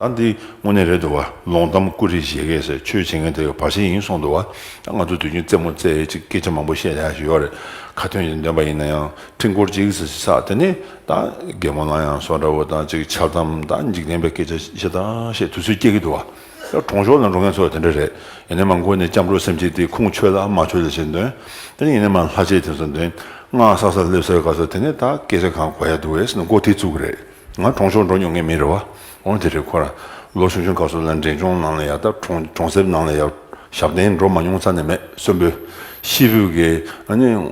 ད་འདི་དངོས་གནས་རེད་འདུག་བ་ལོང་གཏམ་ཀུ་རེ་བཞེས་ཀས་ཟེར་ཆོས་བྱེད་མཁན་དེ་ག་བ་ཞིག་ཡིན་གསུངས་འདུག་བ་ད་ང་ཚོ་དུས་རྒྱུན་རྩེད་མོ་རྩེ་ཡས་ཅིག་སྐད་ཆ་མང་པོ་བཤད་ཡག་ཞིག་ཡོད་རེད་ཁ་ཐོན་ཡིན་འདོད་པ་ཡིན་ན་ཡང་སྤྲིན་སྐོར་ཅིག་ཟེར་ཞིག་ཟག་དེ་ནས་ད་རྒད་མོ་ལང་ཡང་སོ་འདྲ་བོ་ད་ཅིག་འཆལ་གཏམ་ད་འཇིག་རྟེན་པའི་སྐད་ཆ་ཤེས་ད་ཤེས་དུས་ཚོད་སྐྱེལ་གི་འདུག་བ་ད་གྲོང་ཤོར་ལ་འགྲོ་མཁན་ཚོ་དེ་འདྲ་རེད་ཡིན་ན་མ་མགོ་ནས་སྐྱབས་འགྲོ་སེམས་བསྐྱེད་དེ་ཁུངས་ཆོད་ལ་མ་ཆོད་ལ་བྱེད་འདོན་དེ་ནས་ཡིན་ན་མ་ལྷ་ཆས་དེ་ཚོ་འདོན་སྔགས་བསགས་སར་སླེབས་སར་ག་ཚོད་དེ་ནས་ད་སྐད་ཆ་གང་གོ་ཡག་འདུག་བས་ན་མགོ་ཐིག་བཙུགས་གི་རེད། ང་གྲོང་ཤོར་འགྲོ་མྱོང་མཁན་མིན་རེད་བ། འོན་དེ་རེད་ཁོ་ར། ལོ་ཆུང་ཆུང་སྐབས་སུ་ལན་འབྲས་ལྗོངས་ནང་ལ་ཡག་སྟབས་གྲོང་གྲོང་གསེབ་ནང་ལ་ཡག། ཞབས་བརྟན་འགྲོ་མ་མྱོང་ས་ནས་མེད་གསོན་པོའི། ཤི་བོའི་གེ། ནི།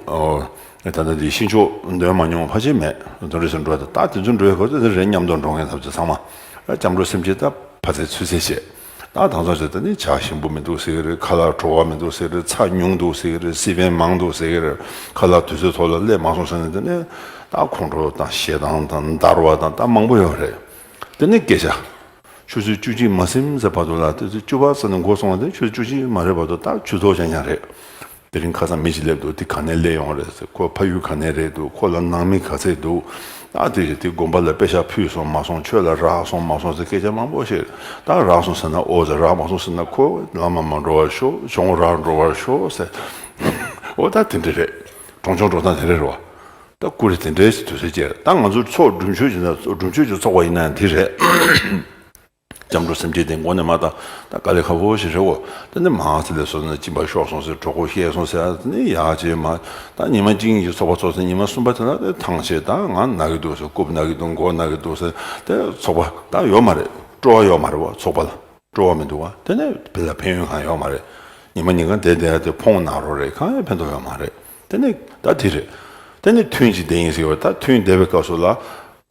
ད་ལྟ་འདི་ཤི་མཆོག་འདོན་མ་མྱོང་ཕ་ཆེ་མེད། དོན་རེད་ཟེར་འགྲོ་ད་ལྟ་དེ་ཚོ་འགྲོའི་གོ་ས་དེ་རེད་སྙམ་དུ་འགྲོ་མཁན་ཐབས་ཚུལ་ཚང་མ། སྐྱབས་འགྲོ་སེམས་བསྐྱེད་སྟབས། ཕ་ཚའི་ཚུལ་བསྲེ་བྱས། ད་དང་ཚོགས་བྱས་ད་ནི་བྱ་ཞིམ་པོ་མི་འདུག་ཟེར་གྱི་རེད་ཁ་ལག་བྲོ་བ་མི་འདུག་ཟེར་གྱི་རེད་ཚ་ཉུང་འདུག་ཟེར་གྱི་རེད་སྲིད་བེན་མང་འདུག་ཟེར་གྱི་རེད་ཁ་ལག་དུས་ཚོད་ཐོག་ལ་སླེབས་མ་སོང་ཟེར་ནས་ད་ནི་ད་ཁོང་ཁྲོ་དང་ཞེ་སྡང་དང་འདར་བ་དང་ད་མང་པོ་ཡོད་རེད་ད་ནི་སྐད་ཆ། ཆུ་ཚོད་བཅུ་གཅིག་མ་སིམ་ཟེར་བར་དུ་ལ་སྟོད་ཚོད་བཅུ་བ་ཟེར་ནས་འགོ་སོང་བ་དེ་ཆུ་ཚོད་བཅུ་གཅིག་མ་རེད་བར་དུ་ད་ཆུ་ཚོད་ཀྱང་ཡང་རེད། དེ་རིང་ཁ་སང་མི་ཞིག་སླེབས་འདུག་དེ་ག་ནས་སླེབས་ཡོང་བ་རེད་ཟེར་ཁོའི་ཕ་ཡུལ་ག་ནས་རེད་འདུག་ཁོ་ལ་ནང་མི་ག་ཚད་འདུག་ཨ་དེ་རེད་དེ་དགོན་པ་ལ་དཔེ་ཞག་ཕུད་སོང་མ་སོང་ཆོས་ལ་རག་སོང་མ་སོང་ཟེར་སྐད་ཆ་མང་པོ་བཤད། ད་རག་སོང་ཟེར་ན་ཨོ་ཟེར་རག་མ་སོང་ཟེར་ན་ཁོ་ལམ་ལ་མ་འགྲོ་བར་ཤོག་ཆོག་ངོ་རག་འགྲོ་བར་ཤོག་ཟེར། ཨོ་ད་དེ་འདྲ་རེད། གྲོང་ཆུང་འགྲོ་སྟངས་དེ་འདྲ་རེད་བ། ད་སྐུ་རེ་དེ་འདྲའི་ཟེར་དུས་ཟེར་ཅེར་ད་ང་ཚོ་ཚོགས་སྒྲུབ་མཆོད་ཅེས་ཚོགས་པ་ཡིན་ན་ཡང་དེ་རེད། སྐྱབས་འགྲོ་སེམས་ཅན་དེ་མགོ་ནས་མ་བཏང་ད་དཀའ་ལས་ཁ་བོ་ཞིག་རེད་བོ། ད་ནི་མ་ཚེ་ལས་སོ་ན་གཅིན་པ་ཤོར་སོང་ཟེར་གྲོགས་ཁོ་ཤེས་སོང་ཟེར་ད་ནི་ཡག་བྱས་མ་ད་ཉི་མ་གཅིག་གཉིས་ཀྱི་ཚོགས་པ་ཚོགས་ཟེར་ཉི་མ་གསུམ་པ་དེ་ལ་ད་ཐང་ཆད་ད་ང་ན་གི་འདུག་ཟེར་རྐུབ་ན་གི་འདུག་མགོ་ན་གི་འདུག་ཟེར་ད་ཚོགས་པ་ད་ཡོད་མ་རེད་སྤྲོ་བ་ཡོད་མ་རེད་བོ་ཚོགས་པ་ལ་སྤྲོ་བ་མི་འདུག་བ་དེ་ནི་དེ་ལ་ཕན་ཡོན་གང་ཡོད་མ་རེད་ཉི་མ་གཉིས་ཀ་འདས་འདས་དེ་ཕོངས་ན་རོགས་རེད་གང་ཡང་ཕན་ཐོགས་ཡོད་མ་རེད་དེ་ནི་ད་དེ་རེད་དེ་ནི་ཐུན་གཅིག་འདས་ཡིན་ཟེར་བ་ད་ཐུན་འདས་པའི་སྐབས་སུ་ལ།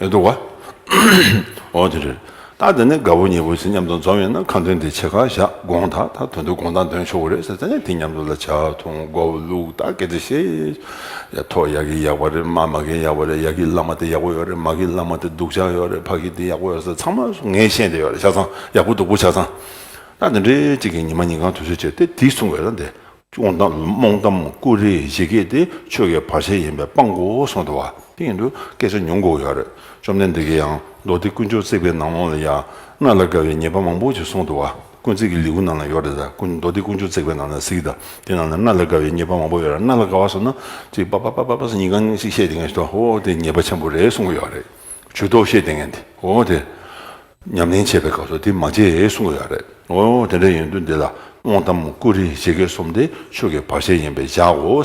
ཨེ་འདུག་ག། འོ་དེ་རེད། ད་དེ་ནས་དགའ་བོ་ཉེ་བོ་ཚིག་མཉམ་དུ་འཛོམས་ཡོད་ན་ཁ་འདོན་དེ་ཆེ་ཁ་བཞག་དགོངས་དག་ད་དོན་དུ་དགོངས་དག་འདོན་ཆོག་གི་རེད་ཟེར་ད་ནས་དེ་མཉམ་དུ་ལ་བྱ་ཐུང་མགོ་བོ་བླུག་ད་གལ་ཏེ་ཤེས། ཡ་ཐོག་ཡག་གི་ཡག་པ་རེད་མ་མ་གི་ཡག་པ་རེད་ཡག་གི་ལག་མ་དེ་ཡག་པོ་ཡོད་རེད་མ་གི་ལག་མ་དེ་སྡུག་ཅག་ཡོད་རེད་ཕ་གི་དེ་ཡག་པོ་ཡོད་ཟེར་ཚང་མ་སུ་ངས་ཤེས་འདི་ཡོད་རེད་ཆ་ཚང་ཡག་པོ་སྡུག་པོ་ཆ་ཚང། ད་དེ་འདྲའི་གཅིག་གི་ཉི་མ་ཉིན་གང་དུས་ཚོད་བྱས་ཏེ་དེ་གསུང་བས་ད་འདི་སྐྱོང་དང་རྨོངས་གཏམ་ཀུ་རེ་བཞེས་སྐད་དེ་ཆོས་ཀྱི་བར་ཆད་ཡིན་པས་སྤང་གོ་གསུངས་འདུག་བ། དེ་ཡིན་དུས་སྐད་ཆ་ཉུང་གོ་ཡག་རེད་བཅོམ་ལྡན་འདས་ཀྱིས་ཡང་མདོ་སྡེ་དཀོན་མཆོག་བརྩེགས་པའི་ནང་ལོགས་ལ་ཡང་ང་ལ་དགའ་བའི་ཉེས་པ་མང་པོ་ཞིག་གསུངས་འདུག་བ། དཀོན་བརྩེགས་ཀྱི་ལེའུ་ནང་ལ་ཡོད་རེད་ད་དཀོན་མདོ་སྡེ་དཀོན་མཆོག་བརྩེགས་པའི་ནང་ལ་གཟིགས་ད་དེ་ནང་ལ་ང་ལ་དགའ་བའི་ཉེས་པ་མང་པོ་ཡོད་རེད་ང་ལ་དགའ་བ་ཟེར་ན་ཅིག་པ་པ་པ་པ་པ་ཟེར་ཉིན་གང་ཞིག་བཤད་དེ་ངན་ཞིག་འདུག་ཨོ་དེ་ཉེས་པ་ཆེན་པོ་རེད་གསུངས་གོ་ཡག་རེད་ཇུས་ཏོག་བཤད་དེ་ངན་དེ་ཨོ་དེ། ཉམས་ལེན་བྱེད་པའི་སྐབས་སུ་དེ་མ་བྱེད་གསུང་གི་ཡོད་རེད། འོ་ཡོང་དེ་འདྲ་ཡིན་དུས་འདི་ལ་རྨོངས་གཏམ་ཀུ་རེ་བཤད་མཁན་གསུམ་དེ་ཆོས་ཀྱི་བར་ཆད་ཡིན་པས་བཞག་གོ།